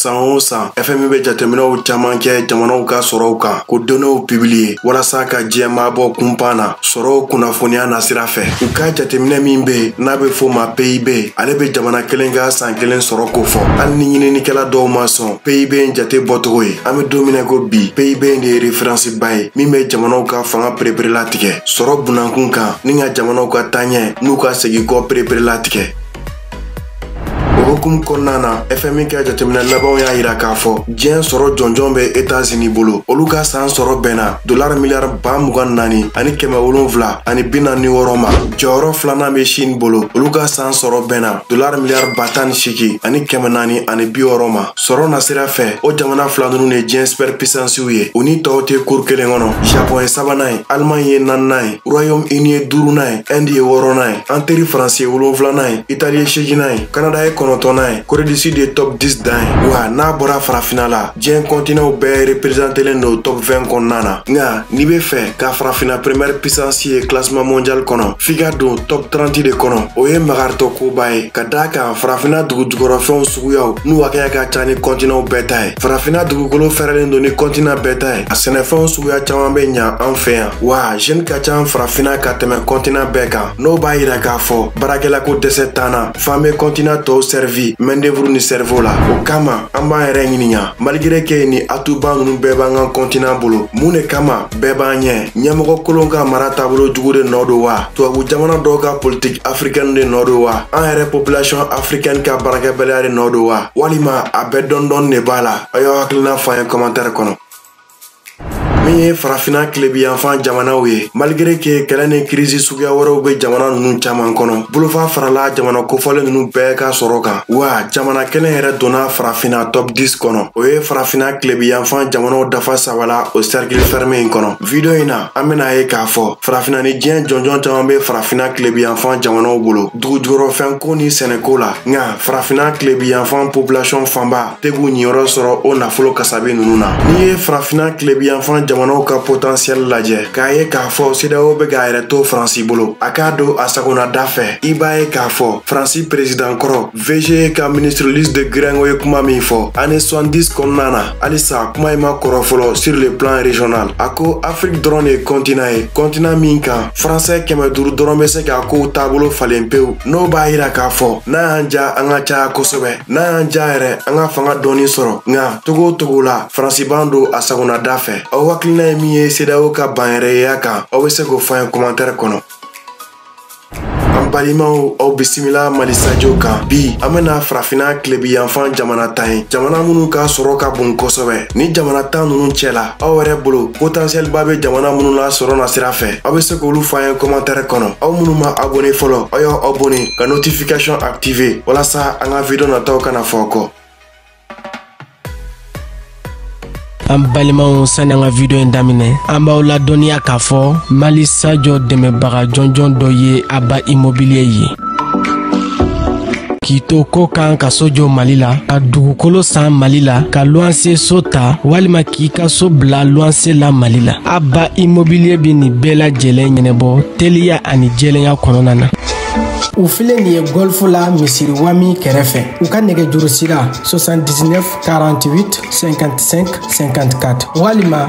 san o san fmi bɛ jateminɛw caman kɛ jamanaw ka sɔrɔw kan k'o donnew pibiliye walasa ka diɲɛmaa bɔ kunpan na sɔrɔw kunnafoniya nasira fɛ u ka jateminɛ min be n'a be fɔ ma pib ale be jamana kelen ka san kelen sɔrɔ kofɔ hali ni ɲininikɛla dɔw ma sɔn pib in jate bɔcogo ye an be don min na ko bi pib de ye referansiba ye min be jamanaw ka fanga pereperela tigɛ sɔrɔ bunankun kan ani ka jamanaw ka taaɲɛ n'u ka segikɔ pereperela tigɛ o hukumu kɔnɔna na fmi ka jateminɛ labanw y'a yira k'a fɔ diɲɛ sɔrɔ jɔnjɔn bɛ etazini bolo olu ka saan sɔrɔ bɛnna dolar miliyar ba mugan naani ani kɛmɛ wolonfila ani bi naani wɔɔrɔ ma jɔyɔrɔ filanan bɛ shin bolo olu ka saan sɔrɔ bɛnna dolar miliyar ba tan ni seegin ani kɛmɛ naani ani bi wɔɔrɔ ma sɔrɔ nasira fɛ o jamana fila nunu de diɲɛ supɛr pisansiw ye u ni tɔw tɛ kuru kelen kɔnɔ japɔn ye sabanan ye alemaɲi ye naaninan ye royaume uni ye duurunan ye ɛndi ye wɔɔrɔnan ye an teri faransi ye wolonfilanan ye itali ye seeginan ye kanada ye kɔnɔntɔnnan ye kore du sud ye top 10 dan ye wa n'a bɔra farafina la diɲɛ kɔntinaw bɛɛ reperezantelen do top 20 kɔnɔna na nka n'i be fɛ ka farafina peremiyɛri pisansi ye klasiman mondial kɔnɔ f'i ka don top 30 de kɔnɔ o ye magaritɔ koba ye ka d'a kan farafina dugu jukɔrɔfɛnw suguyaw n'u hakɛya ka ca ni kɔntinaw bɛɛ ta ye farafina dugukolo fɛrɛlen do ni kɔntina bɛɛ ta ye a sɛnɛfɛnw suguya caaman be ɲa an fɛ yan wa jeni ka ca farafina ka tɛmɛ kɔntinan bɛɛ kan n'o b'a yira k'a fɔ baarakɛlako dɛsɛ t'an na f'an be kɔntinan tɔw sɛrivi mɛndevuru ni sɛrivo la o kama an b'an yɛrɛ ɲininka maligire ke ye ni atuba nunu bɛɛ b'an ka kɔntinan bolo mun ne kama bɛɛ b'an ɲɛ ɲɛmɔgɔ kolon ka mara taabolo jugu de nɔɔ do wa tubabu jamana dɔw ka politiki afrikɛni de nɔɔ do wa an yɛrɛ popilasiyɔn afrikɛni ka baarakɛbaliya de nɔɔ do wa walima a bɛɛ dɔndɔni de b'a la a y'aw hakilina fɔ an ye kɔmantɛrɛ kɔnɔ min ye farafina kilebiyanfan jamanaw ye malgré ke kɛlɛ ni kirisi suguya wɛrɛw be jamana nunu caaman kɔnɔ bolofa farala jamana kofɔlen nunu bɛɛ ka sɔrɔ kan wa jamana kelen yɛrɛ donna farafina top 10 kɔnɔ o ye farafina kilebiyanfan jamanaw dafa saba la o cercle ferme in kɔnɔ video in na an ben'a ye k'a fɔ farafina ni diɲɛ jɔnjɔn caaman be farafina kilebiyanfan jamanaw bolo dugu jukɔrɔfɛnko ni sɛnɛko la nka farafina kilebiyanfan population fanba te k'u ɲiyɔrɔ sɔrɔ o nafolo kasabi nunu na n'i ye farafina kilebiyanfan jamanaw ka potansiyɛli lajɛ k'a ye k'a fɔ sedeyawo bɛ k'a yɛrɛ to faransi bolo a k'a don a sago n'a da fɛ i b'a ye k'a fɔ faransi perezidan kɔrɔ vge ka ministre louis de guiringaud ye kuma min fɔ ane 70 kɔnɔna na halisa kuma in ma kɔrɔ fɔlɔ sur le plan régional a ko afiriki dɔrɔn de ye kɔntinan ye kɔntinan min kan faransɛ kɛmɛ duru dɔrɔn be se k'a kow taabolo falen pewu n'o b'a yira k'a fɔ n'a y'an ja an ka caya kosɛbɛ n'an y'an ja yɛrɛ an ka fanga dɔɔni sɔrɔ nka cogo o cogo la faransi b'an don a sagonada fɛ aw hakilina ye min ye sedawo ka banyɛrɛyeya kan aw be se k'o fɔ an ye kɔmantɛrɛ kɔnɔ an balimaw aw bisimila mali sajo kan bi an bena farafina kilebi yanfan jamana tan ye jamana minnu ka sɔrɔ ka bon kosɛbɛ nin jamana tan nunu cɛla aw yɛrɛ bolo potentiɛliba bɛ jamana minnu la sɔrɔ nasira fɛ aw bɛ se k'olu fɔ an ye kɔmantɛrɛ kɔnɔ aw minnu ma abone fɔlɔ aw y'aw abone ka notification active walasa an ka video nataw kana fɔ aw kɔ an balimaw sani an ka video in daminɛ an b'aw ladɔnniya k'a fɔ mali sajo dɛmɛbaga jɔnjɔn dɔ ye aba immobilier ye k'i to kɔkan ka so jɔ mali la ka dugukolo san mali la ka luwanse so ta walima k'i ka so bila luwanse la mali la aba immobilier bɛ nin bɛɛ lajɛlen ɲɛnabɔ teliya ani jɛlenya kɔnɔna na u filɛ nin ye gɔlfu la misiri wami kɛrɛfɛ u ka nɛgɛjurusira 79 48 55 54 walima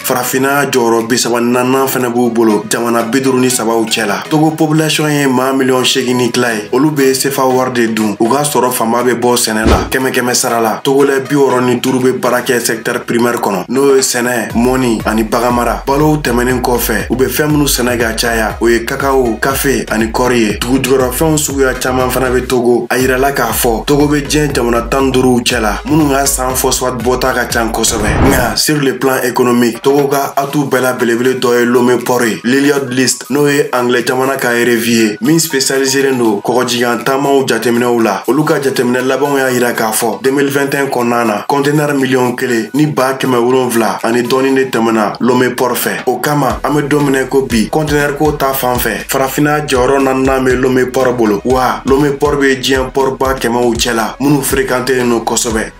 farafinna jɔyɔrɔ bisaba naaninan fɛnɛ b'u bolo jamana biduru ni sabaw cɛ la togo population ye maa miliyɔn segin ni tila ye olu be sefa wari de dun u ka sɔrɔ fanba be bɔ sɛnɛ la kɛmɛ kɛmɛ sara la togolɛ biwɔrɔ ni duru be baara kɛ sɛktɛr primɛr kɔnɔ n'o ye sɛnɛ mɔni ani baganmara balow tɛmɛnin kɔfɛ u be fɛɛn minnu sɛnɛ ka caya o ye kakawo kafe ani kɔri ye dugujugɔrɔfɛnw suguya caaman fana be togo a yirala k'a fɔ togo be diɲɛ jamana tan duuruw cɛ la minnu ka san phosphate bɔta ka can kosɛbɛ nka sur le plan économique togo ka atu bɛɛ la belebele dɔ ye lome pɔr ye lloyd's list n'o ye anglais jamana ka revue ye min spécialiselen don kɔgɔji kan taamaw jateminɛw la olu ka jateminɛ labanw y'a yira k'a fɔ 2021 kɔnɔna na kɔntenɛr miliyɔn kelen ni baa kɛmɛ wolonfila ani dɔɔni de tɛmɛna lome pɔr fɛ o kama an be don min na ko bi kɔntenɛr ko ta fan fɛ farafinna jɔyɔrɔ naaninan bɛ lome pɔrɔ bolo wa lome pɔrɔ bɛ diɲɛ pɔrɔba kɛmɛw cɛla minnu ferekantelen don kosɛbɛ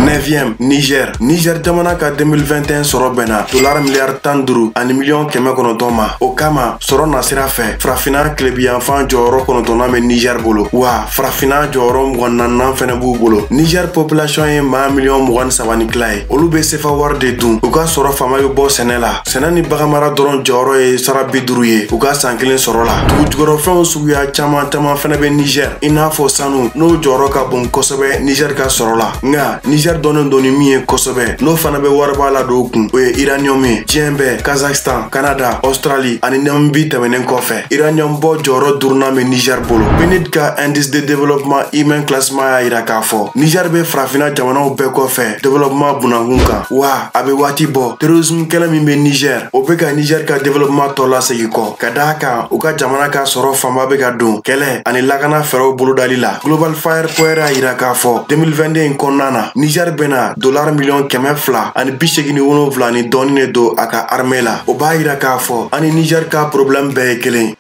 9e Niger Niger jamana ka 2021 sɔrɔ bɛnna dolar miliyari tan duuru ani miliyɔn kɛmɛ kɔnɔntɔn ma o kama sɔrɔ nasira fɛ farafinna kilebiyanfan jɔyɔrɔ kɔnɔntɔnnan bɛ Niger bolo wa farafinna jɔyɔrɔ mugan naaninan fɛnɛ b'u bolo Niger population ye maa miliyɔn mugan ni saba ni tila ye olu bɛ sefa wari de dun u ka sɔrɔ fanba bɛ bɔ sɛnɛ la sɛnɛ ni baganmara dɔrɔn jɔyɔrɔ ye sara bi duru ye u ka saan kelen sɔrɔ la dugujukɔrɔfɛnw suguya caaman caaman fɛnɛ be nizɛr i n'a fɔ sanu n'o jɔyɔrɔ ka bon kosɛbɛ nizɛr ka sɔrɔ la nka nizɛr dɔnnen don ni min ye kosɛbɛ n'o fana be wariba ladon kun o ye iraniyɔm ye diɲɛ bɛɛ kazakstan kanada ɔstrali ani namibi tɛmɛnen kɔfɛ iraniyɔm bɔ jɔyɔrɔ durunan be nizɛr bolo pnud ka indice de développement humain classement y'a yira k'a fɔ nizɛr be farafina jamanaw bɛɛ kɔfɛ développement bunda kun kan wa a bɛ waati bɔ terrorisme kɛlɛ min bɛ niger o bɛ ka niger ka développement tɔ lasegin kɔ ka d'a kan u ka jamana ka sɔrɔ fanba bɛ ka don kɛlɛ ani lakana fɛɛrɛw bolodali la global fire power y'a yira k'a fɔ 2022 in kɔnɔna na niger bɛna dollar miliyɔn kɛmɛ fila ani bi segin ni wolonfila ni dɔɔni de don a ka armée la o b'a yira k'a fɔ an ni niger ka problème bɛɛ ye kelen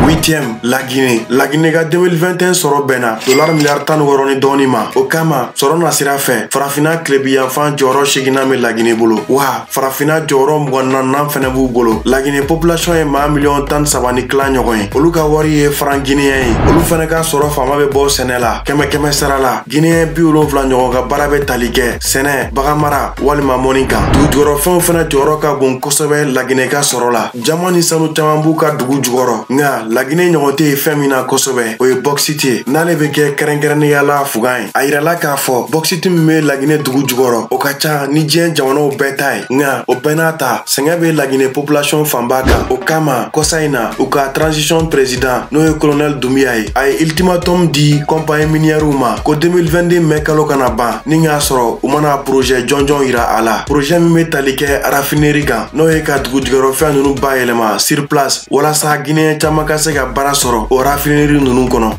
huitième la Guinée la Guinée ka 2021 sɔrɔ bɛnna dollar miliyari tan ni wɔɔrɔ ni dɔɔni ma o kama sɔrɔ nasira fɛ farafina kilebiyanfan jɔyɔrɔ seginnan bɛ la Guinée bolo wa farafina jɔyɔrɔ mugan naaninan fɛnɛ b'u bolo la Guinée population ye maa miliyɔn tan ni saba ni tila ɲɔgɔn ye olu ka wari ye franc guinéen ye olu fɛnɛ ka sɔrɔ fanba bɛ bɔ sɛnɛ la kɛmɛ kɛmɛ sara la guinéen bi wolonfila ɲɔgɔn ka baara bɛ tali kɛ sɛnɛ baganmara walima mɔni kan dugujukɔrɔfɛnw fɛnɛ jɔyɔrɔ ka bon kosɛbɛ la Guinée ka sɔrɔ la jaman ni sanu caman b'u ka dugu jukɔrɔ nka lagine ɲɔgɔn tɛ ye fɛn min na kosɛbɛ o ye bɔkisiti ye n'ale bɛ kɛ kɛrɛnkɛrɛnnenya la fugan ye a yirala k'a fɔ bɔkisiti min bɛ lagine dugu jukɔrɔ o ka ca ni diɲɛ jamanaw bɛɛ ta ye nka o bɛɛ n'a ta sɛgɛn bɛ lagine population fanba kan o kama kɔsa in na u ka transition president n'o ye colonel doumbouya ye a ye ultimatum di kɔnpaɲi miniyɛriw ma ko 2022 mɛ kalo kana ban ni k'a sɔrɔ u ma na projet jɔnjɔn yira a la projet min bɛ tali kɛ rafineri kan n'o ye ka dugujukɔrɔfɛn ninnu bayɛlɛma sur place walasa guinéen caman ka se ka baara sɔrɔ o rafineri ninnu kɔnɔ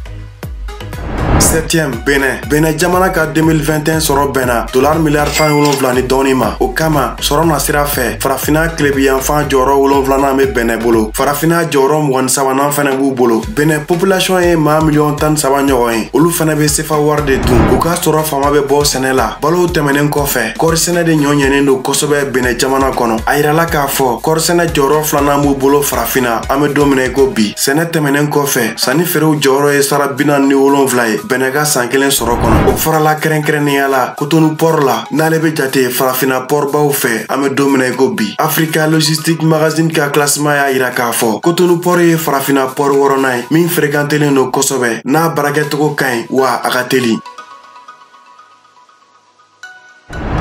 septième benɛ benɛ jamana ka 2021 sɔrɔ bɛnna dolar miliyari tan ni wolonfila ni dɔɔni ma o kama sɔrɔ nasira fɛ farafina kilebiyanfan jɔyɔrɔ wolonfilanan be benɛ bolo farafina jɔyɔrɔ mugan ni sabanan fɛnɛ b'u bolo benɛ population ye maa miliyɔn tan ni saba ɲɔgɔn ye olu fɛnɛ be sefa wari de dun u ka sɔrɔ fanba be bɔ sɛnɛ la balow tɛmɛnen kɔfɛ kɔrisɛnɛ de nɔ ɲɛnen don kosɛbɛ benɛ jamana kɔnɔ a yirala k'a fɔ kɔrisɛnɛ jɔyɔrɔ filanan b'u bolo farafina an be don min na i ko bi sɛnɛ tɛmɛnen kɔfɛ sanni feerew jɔyɔrɔ ye sara bi naani ni wolonfila ye benɛ ka san kelen sɔrɔ kɔnɔ o farala kɛrɛnkɛrɛnnenya la kotonu pɔr la n'ale be jate farafina pɔrbaw fɛ an be don min na i ko bi afrika logistique magazine ka classement y'a yira k'a fɔ kotonu pɔr ye farafina pɔr wɔrɔnan ye min ferekantelen don kosɛbɛ n'a baarakɛcogo ka ɲi wa a ka teli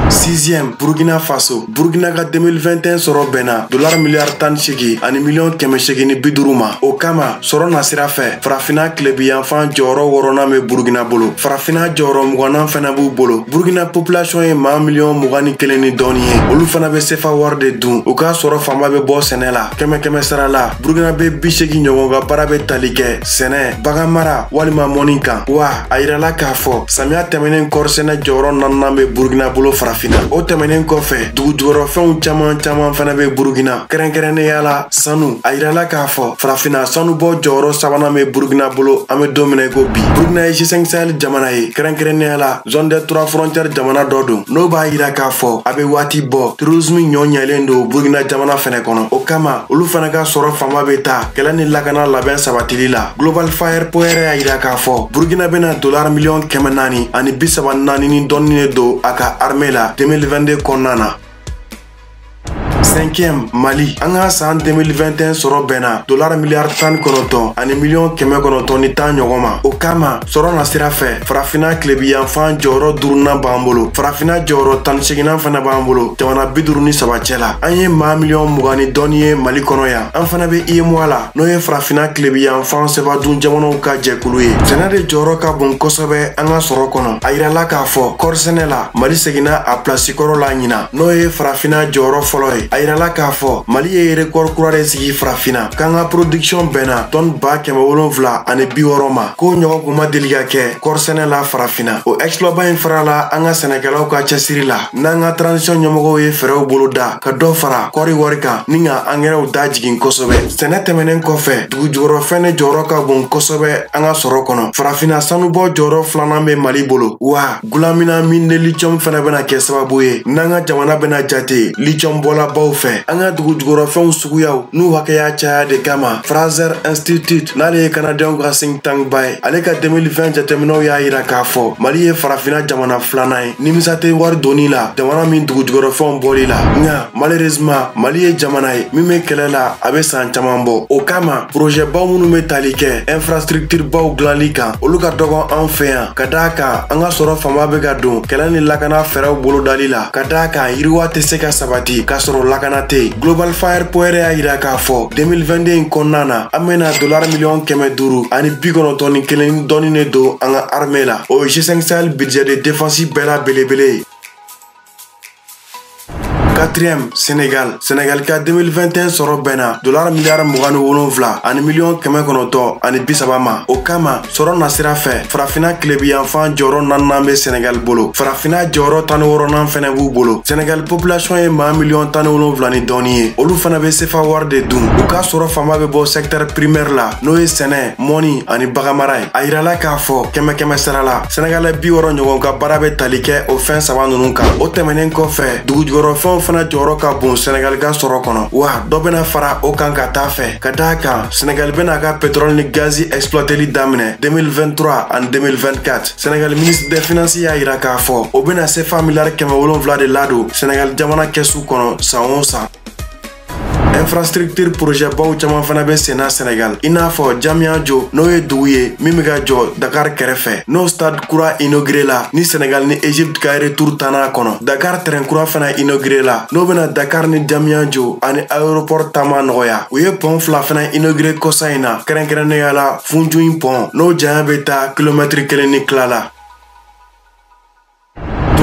sixième burkina faso burkina ka 2021 sɔrɔ bɛnna dolar miliyari tan ni segin ani miliyɔn kɛmɛ segin ni bi duuru ma o kama sɔrɔ nasira fɛ farafina tilebiyanfan jɔyɔrɔ wɔrɔnan bɛ burkina bolo farafina jɔyɔrɔ mugannan fana b'u bolo burkina population ye maa miliyɔn mugan ni kelen ni dɔɔni ye olu fana bɛ sefa wari de dun u ka sɔrɔ fanba bɛ bɔ sɛnɛ la kɛmɛ kɛmɛ sara la burukinabe bi segin ɲɔgɔn ka baara be tali kɛ sɛnɛ baganmara walima mɔni kan wa a yirala k'a fɔ samiya tɛmɛnen kɔrisɛnɛ jɔyɔrɔ naaninan be burukina bolo farafina o tɛmɛnen kɔfɛ dugu jukɔrɔfɛnw caman caman fana be burukina kɛrɛnkɛrɛnnenya la sanu a yirala k'a fɔ farafina sanubɔ jɔyɔrɔ sabanan be burukina bolo an be don min na ko bi burukina ye g5 sahel jamana ye kɛrɛnkɛrɛnnenya la zone des trois frontières jamana dɔ don n'o b'a yira k'a fɔ a be waati bɔ terorisimu ɲɔ ɲɛlen don burukina jamana fɛnɛ kɔnɔ o kama olu fana ka sɔrɔ fanba bɛ taa kɛlɛ ni lakana labɛn sabatili la global firepower y'a yira k'a fɔ burkina bɛna dolar miliyɔn kɛmɛ naani ani bi saba naani ni dɔɔni de don a ka arme la 2022 kɔnɔna na cinquième mali an ka san 2021 sɔrɔ bɛnna dolar miliyari tan kɔnɔntɔn ani miliyɔn kɛmɛ kɔnɔntɔn ni tan ɲɔgɔn ma o kama sɔrɔ nasira fɛ farafina tilebiyanfan jɔyɔrɔ durunan b'an bolo farafina jɔyɔrɔ tan ni seginan fana b'an bolo jamana bi duru ni saba cɛ la an ye maa miliyɔn mugan ni dɔɔni ye mali kɔnɔ yan an fana be uemoa la n'o ye farafina tilebiyanfan sefa dun jamanaw ka jɛkulu ye sɛnɛ de jɔyɔrɔ ka bon kosɛbɛ an ka sɔrɔ kɔnɔ a yirala k'a fɔ kɔrisɛnɛ la mali seginna a pilasi kɔrɔ la ɲina n'o ye farafina jɔyɔrɔ fɔlɔ ye a yirala k'a fɔ mali ye rekɔri kura de sigi farafina k'an ka production bɛnna tɔni ba kɛmɛ wolonfila ani bi wɔɔrɔ ma k'o ɲɔgɔn kun ma deli ka kɛ kɔɔrisɛnɛ la farafinna o exploit ba in farala an ka sɛnɛkɛlaw ka cɛsiri la n'an ka transisɔn ɲɛmɔgɔw ye fɛɛrɛw bolo da ka dɔ fara kɔɔri wari kan ni ka angɛrɛw da jigin kosɛbɛ sɛnɛ tɛmɛnen kɔfɛ dugu jukɔrɔfɛn ne jɔyɔrɔ ka bon kosɛbɛ an ka sɔrɔ kɔnɔ farafinna sanubɔ jɔyɔrɔ filanan bɛ mali bolo wa Gulamina mine de lithium fana bɛna kɛ sababu ye n'an ka jamana bɛna jate lithium bɔlabaw fɛ an ka dugu jukɔrɔfɛnw suguyaw n'u hakɛya caya de kama Fraser Institute n'ale ye kanadɛnw ka think tank ba ye ale ka 2020 jateminɛw y'a yira k'a fɔ mali ye farafina jamana filanan ye nimisa tɛ wari donni la jamana min dugu jukɔrɔfɛnw bɔli la nka malheureusement mali ye jamana ye min bɛ kɛlɛ la a bɛ san caman bɔ o kama projet baw minnu bɛ tali kɛ infrastructure baw dilanli kan olu ka dɔgɔ an fɛ yan ka da a kan an ka sɔrɔ fanba bɛ ka don kɛlɛ ni lakana fɛɛrɛw bolodali la ka da a kan yiriwa tɛ se ka sabati k'a sɔrɔ lakana tɛ yen global firepower y'a yira k'a fɔ 2022 in kɔnɔna na an bɛna dolari miliyɔn kɛmɛ duuru ani bi kɔnɔntɔn ni kelen ni dɔɔni de don an ka arme la o ye g5 sahel budget de défense bɛɛ la belebele ye quatrième Sénégal Sénégal ka 2021 sɔrɔ bɛnna dolari miliyari mugan ni wolonfila ani miliyɔn kɛmɛ kɔnɔntɔn ani bi saba ma o kama sɔrɔ nasira fɛ farafina kilebiyanfan jɔyɔrɔ naninan bɛ Sénégal bolo farafina jɔyɔrɔ tan ni wɔrɔnan fɛnɛ b'u bolo Sénégal population ye maa miliyɔn tan ni wolonfila ni dɔɔni ye olu fana bɛ sefa wari de dun u ka sɔrɔ fanba bɛ bɔ secteur primaire la n'o ye sɛnɛ mɔni ani baganmara ye a yirala k'a fɔ kɛmɛ kɛmɛ sara la sɛnɛgalɛ bi wɔrɔ ɲɔgɔn ka baara bɛ tali kɛ o fɛn saba ninnu kan o tɛmɛnen kɔfɛ dugujukɔrɔfɛnw fana jɔyɔrɔ ka bon sɛnɛgali ka sɔrɔ kɔnɔ wa dɔ bɛna fara o kan ka taa fɛ ka d'a kan sɛnɛgali bɛna a ka petrɔli ni gazi ɛsplɔteli daminɛ 2023 ani 2024 sɛnɛgali minisiri de finansi y'a yira k'a fɔ o bɛna sefa miliyari kɛmɛ wolonfila de ladon sɛnɛgali jamana kɛsu kɔnɔ san o san infrastructure projet baw caman fana bɛ senna Sɛnɛgal i n'a fɔ Diamniadio n'o ye dugu ye min bɛ ka jɔ Dakar kɛrɛfɛ n'o stade kura inauguré la ni Sɛnɛgal ni Egypte ka retour tanna kɔnɔ Dakar train kura fana inauguré la n'o bɛna Dakar ni Diamniadio ani aéroport taama nɔgɔya u ye pont fila fana inauguré kɔsa in na kɛrɛnkɛrɛnnenya la Foundiougne pont n'o janya bɛ taa kilomɛtiri kelen ni tila la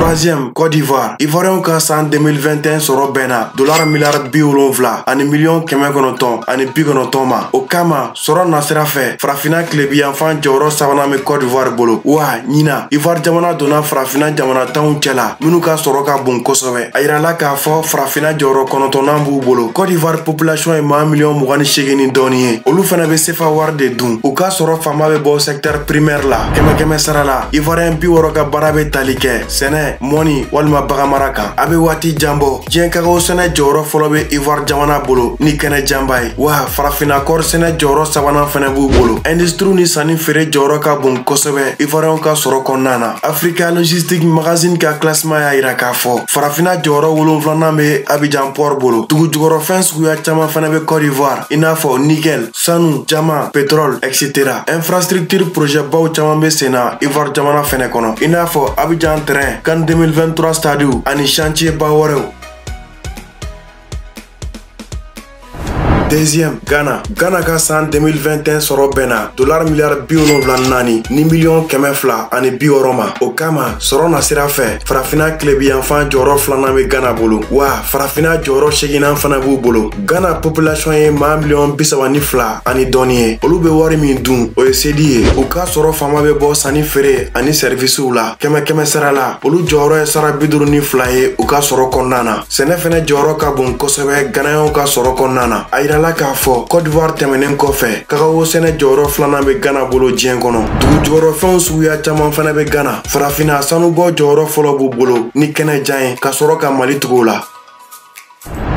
troisième Côte d'Ivoire Ivoiriyɛnw ka san 2021 sɔrɔ bɛnna dolar miliyari bi wolonfila ani miliyɔn kɛmɛ kɔnɔntɔn ani bi kɔnɔntɔn ma o kama sɔrɔ nasira fɛ farafina tilebiyanfan jɔyɔrɔ sabanan bɛ Côte d'Ivoire bolo wa ɲinan Ivoire jamana donna farafina jamana tanw cɛla minnu ka sɔrɔ ka bon kosɛbɛ a yirala k'a fɔ farafina jɔyɔrɔ kɔnɔntɔnnan b'u bolo Côte d'Ivoire population ye maa miliyɔn mugan ni seegin ni dɔɔni ye olu fana bɛ sefa wari de dun u ka sɔrɔ fanba bɛ bɔ secteur primaire la kɛmɛkɛmɛ sara la ivoiriyɛn bi wɔrɔ ka baara bɛ tali kɛ sɛnɛ mɔni walima baganmara kan a bɛ waati jan bɔ diɲɛ kakawo sɛnɛ jɔyɔrɔ fɔlɔ bɛ ivoire jamana bolo ni kɛnɛ janba ye wa farafinna kɔɔri sɛnɛ jɔyɔrɔ sabanan fɛnɛ b'u bolo industiriw ni sanni feere jɔyɔrɔ ka bon kosɛbɛ ivoiriyɛnw ka sɔrɔ kɔnɔna na africa logistique magazine ka classement y'a yira k'a fɔ farafinna jɔyɔrɔ wolonfilanan bɛ abijan port bolo dugujukɔrɔfɛn suguya caman fɛnɛ bɛ cote d'ivoire i n'a fɔ nickel sanu diamant petrol etc infrastructure projet baw caman bɛ senna ivoire jamana fɛnɛ kɔnɔ i n'a fɔ abijan train CAN 2023 stadiw ani chantier ba wɛrɛw deuxième ghana ghana ka san 2021 sɔrɔ bɛnna dolar miliyari bi wolonfila naani ni miliyɔn kɛmɛ fila ani bi wɔrɔ ma o kama sɔrɔ nasira fɛ farafina kilebiyanfan jɔyɔrɔ filanan bɛ ghana bolo wa farafina jɔyɔrɔ seeginnan fana b'u bolo Ghana population ye maa miliyɔn bi saba ni fila ani dɔɔni ye olu bɛ wari min dun o ye sedi ye u ka sɔrɔ fanba bɛ bɔ sanni feere ani sɛrivisiw la kɛmɛkɛmɛ sara la olu jɔyɔrɔ ye sara bi duuru ni fila ye u ka sɔrɔ kɔnɔna na sɛnɛ fɛnɛ jɔyɔrɔ ka bon kosɛbɛ ganayɛnw ka sɔrɔ kɔnɔna na a yirala k'a fɔ cote d'ivoire tɛmɛnen kɔfɛ kakawo sɛnɛ jɔyɔrɔ filanan bɛ ghana bolo diɲɛ kɔnɔ dugujukɔrɔfɛnw suguya caman fɛnɛ bɛ ghana farafinna sanubɔ jɔyɔrɔ fɔlɔ b'u bolo ni kɛnɛ jan ye ka sɔrɔ ka mali tugu u la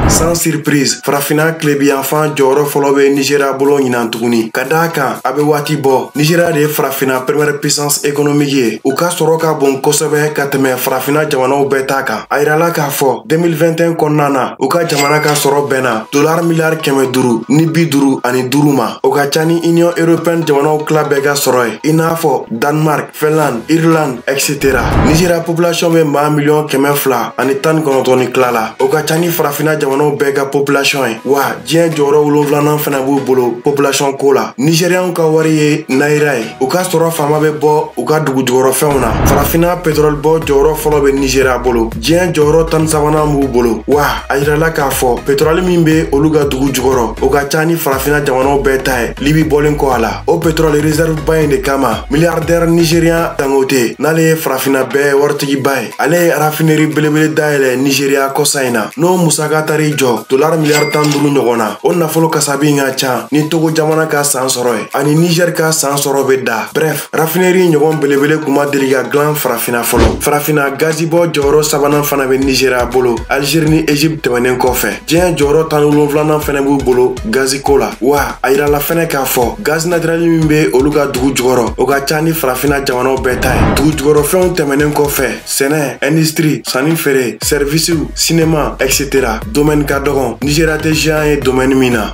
sans surprise farafina kilebiyanfan jɔyɔrɔ fɔlɔ bɛ nizeriya bolo ɲinan tuguni ka d'a kan a bɛ waati bɔ nizeriya de ye farafina première puissance économique ye u ka sɔrɔ ka bon kosɛbɛ ka tɛmɛ farafina jamanaw bɛɛ ta kan a yirala k'a fɔ 2021 kɔnɔna na u ka jamana ka sɔrɔ bɛnna dolar miliyari kɛmɛ duuru ni bi duuru ani duuru ma o ka ca ni union européenne jamanaw tila bɛɛ ka sɔrɔ ye i n'a fɔ danemark Finlande, Irlande, etc. Nizeriya population bɛ maa miliyɔn kɛmɛ fila ani tan ni kɔnɔntɔn ni tila la. O ka ca ni farafina jamanaw bɛɛ ka population ye. Wa diɲɛ jɔyɔrɔ wolonflanan fɛnɛ b'u bolo population ko la. Nizeriyanw ka wari ye naira ye. U ka sɔrɔ faama bɛ bɔ u ka dugu jukɔrɔfɛnw na. Farafina petrol bɔ jɔyɔrɔ fɔlɔ bɛ Nizeriya bolo. Diɲɛ jɔyɔrɔ tan ni sabanan b'u bolo. Wa a yirala k'a fɔ petrol min bɛ olu ka dugu jukɔrɔ, o ka ca ni farafina jamanaw bɛɛ ta ye, Libi bɔlen kɔ a la. o petrɔli reserve ba in de kama miliyardɛr nigerian dangote n'ale ye farafina bɛɛ waritigiba ye ale ye rafineri belebele dayɛlɛ nigeriya kɔsa in na n'o musaka taar'i jɔ dolar miliyar tan duru ɲɔgɔn na o nafolo kasabi ka can ni togo jamana ka saan sɔrɔ ye ani nigɛr ka saan sɔrɔ be da brɛf rafineri ɲɔgɔn belebele kun ma deli ka glan farafina fɔlɔ farafina gazibɔ jɔyɔrɔ sabanan fana be nigeriya bolo algeri ni egypte tɛmɛnen kɔfɛ diɲɛ jɔyɔrɔ tan wolonflanan fɛnɛ b'u bolo gaziko la wa a yirala fɛnɛ k'a fɔ gazi natirɛli min be olu ka dugu jukɔrɔ o ka ca ni farafina jamanaw bɛɛ ta ye dugu jukɔrɔ fɛnw tɛmɛnen kɔfɛ sɛnɛ indistri sanni feere sɛrivisiw sinema etc domɛni ka dɔgɔn nizeriya tɛ géant ye domɛni min na